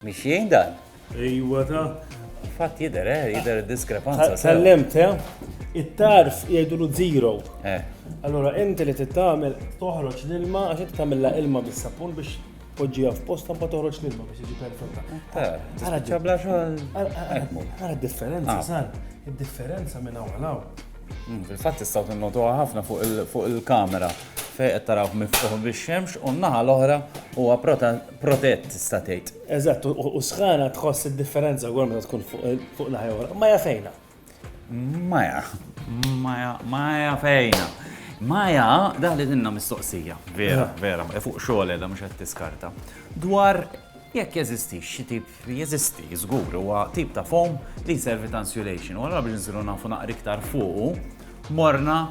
Mixjin dan? Ejwa ta. Fatt jidher, eh, jidher diskrepanza. Kellimt, eh? It-tarf jgħidulu zero. Eh. Allora, inti li tittamel toħroġ l-ilma għax inti tagħmilha ilma bis-sapun biex poġġija f'posta ma toħroġ l-ilma biex jiġi perfetta. Għara ċabla xogħol. Għara differenza, ah. sar. Id-differenza minn hawn għal mm, Fil-fatt tistgħu tinnotuha ħafna fuq il-kamera fejn qed tarawh miftuħ bix-xemx u n-naħa l-oħra huwa protett tista' tgħid. Eżatt, u sħana tħoss id-differenza wkoll meta tkun fuq naħja oħra. Maja fejna. Maja, maja, maja fejna. Maja, daħli dinna mistoqsija, vera, eh. vera, e fuq xogħol edha mhux qed tiskarta. Dwar jekk jeżisti xi tip jeżisti żgur huwa tip ta' foam li jservi ta' insulation. U allura biex nsiru nafu naqri iktar fuq morna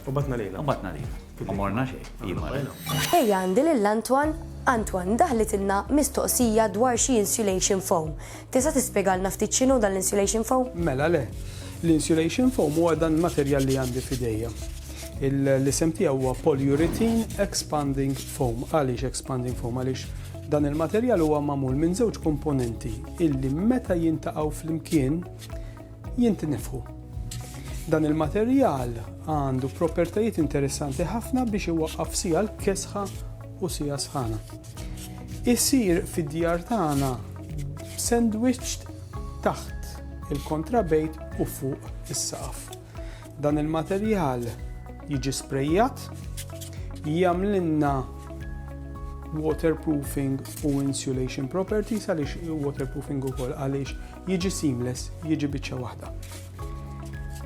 u batna lejna. U batna lejna. Ma morna xejn, hi marret. Ejja għandi lil Antoine. Antoine, daħlitilna mistoqsija dwar xi insulation foam. Tista' tispjegalna ftit x'inhu dan l-insulation foam? Mela le. L-insulation foam huwa dan il-materjal li għandi f'idejja. L-isem tiegħu huwa polyurethane expanding foam. Għaliex expanding foam? Għaliex dan il-materjal huwa magħmul minn żewġ komponenti illi meta jintaqgħu flimkien jintinefħu. Dan il-materjal għandu propertajiet interessanti ħafna biex iwaqqaf sija l-kesħa u sija sħana. Isir fid-djar tagħna sandwich taħt il-kontrabejt u fuq is-saqaf. Dan il-materjal jiġi sprejjat, jagħmlilna waterproofing u insulation properties għaliex waterproofing ukoll għaliex jiġi seamless, jiġi biċċa waħda.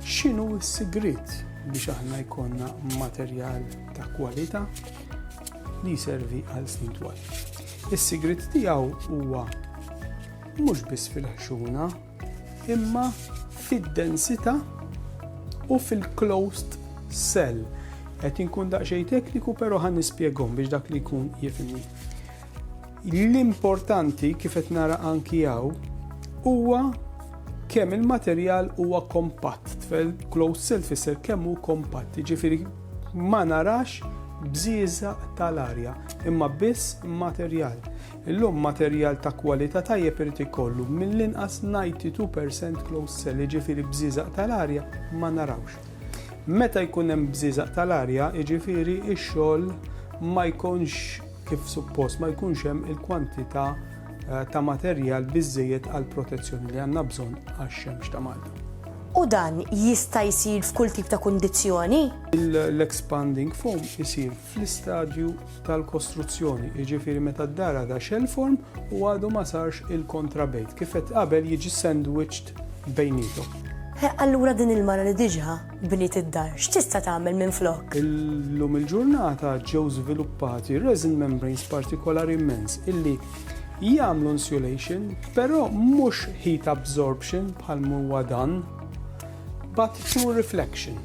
X'inhu s-sigriet biex aħna jkollna materjal ta' kwalità li jservi għal snin twal. Is-sigriet tiegħu huwa mhux biss fil-ħxuna, imma fid-densità u fil-closed cell. Qed inkun daqsxejn tekniku però ħan nispjegom biex dak li jkun jifhimni. L-importanti kif qed nara anki hawn huwa kemm il-materjal huwa kompatt, tfel closed cell tfisser kemm hu kompatt, jiġifieri ma narax bżieża tal-arja, imma biss materjal. Illum materjal ta' kwalità tajjeb irid ikollu mill-inqas 92% closed cell, jiġifieri bżieża tal-arja ma narawx. Meta jkun hemm bżieża tal-arja, jiġifieri x-xogħol ma jkunx kif suppost ma jkunx hemm il-kwantità eh, ta' materjal biżżejjed għall protezzjoni li għandna bżonn għax-xemx ta' Malta. U dan jista' jsir f'kull tip ta' kundizzjoni? L-expanding foam isir fl-istadju tal-kostruzzjoni, jiġifieri meta d-dara da shell form u għadu ma sarx il-kontrabejt. Kif qed qabel jiġi sandwiched bejnietom. Allura din il-mara li diġa Bniet id-dar x'tista' tagħmel minflok? Illum il-ġurnata ġew żviluppati resin membranes partikolari immens illi jagħmlu insulation, però mhux heat absorption bħal huwa dan, but pure reflection.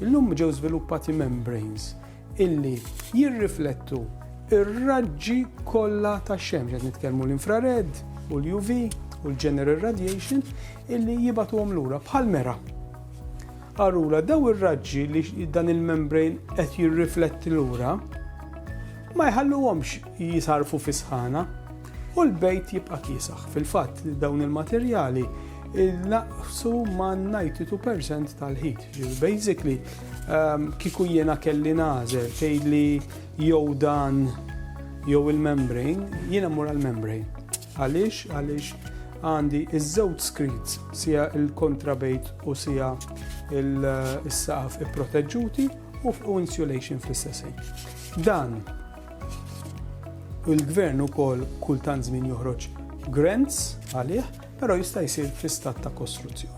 Illum ġew żviluppati membranes illi jirriflettu ir-raġġi kollha tax-xemx qed nitkellmu l-infrared u l-UV u l-general radiation illi jibatuhom lura bħal mera. Arula, daw ir-raġġi li dan il-membrane qed jirrifletti lura ma jħalluhomx jisarfu fis-sħana u l-bejt jibqa' kiesaħ. Fil-fatt dawn il-materjali naqsu ma' 92% tal-ħit. Basically, ehm, kiku jiena kelli nażel tgħidli jew dan jew il-membrane, jiena mur għal-membrane. Għaliex? Għaliex għandi iż-żewġ screens, sija il-kontrabejt u sija il-saqaf ipproteġġuti u fuq insulation fl-istess Dan il-gvern ukoll kultant żmien joħroġ grants għalih, però jista' jsir fl-istat ta' kostruzzjoni.